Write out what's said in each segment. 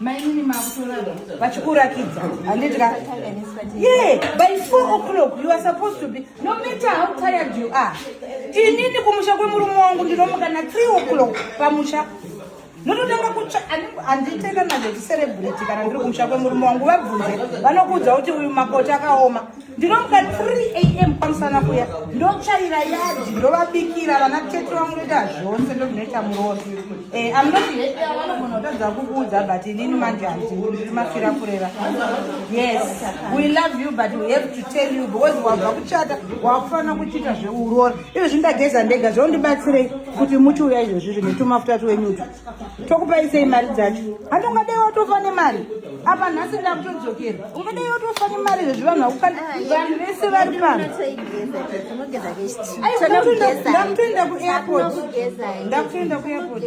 mainini makutorava vachikurakidza handidya ye by four o'clock you are supposed to be no matter how tired you are inini kumusha kwemurume wangu ndinomuka na three o'clock pamusha ndinotanga kutsva handitenda nazvo tiserebrate kana ndiri kumusha kwemurume wangu vabvunze vanokuudza kuti uyu makoti akaoma ndinomuka 3 am kwamusana kuya ndotsvaira yadi ndovabikira vana tete vangu ndoita zvose ndozvinoita murozi eh, amnotivanogona kutadza kukuudza but inini manje handiri mafira kurera yes we love you but we have to tell you because wabva kuchata wakufanira kuchiita zveurora izvezvi ndageza ndega zvondibatsirei kuti muchiuya izvezvi zvine tumafuta tuwenyutu tokupai sei mari dzacho hati ungadai watofa nemari apa nhasi ndakutodzokera ungadai watofa nemari zvezvi vanhu vakukana vanhu vese vari pano ndakutoenda kuairport ndakutoenda kuairport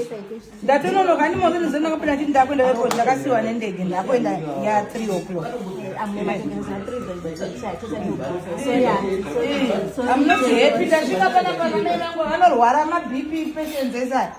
ndatononoka ani moto nezeno ndakapinda nditi ndakuenda kuairport ndakasiwa nendege ndakuenda ya three o'clock amunoti happy tasvika panapa vanai vangu vanorwara mabp patients esai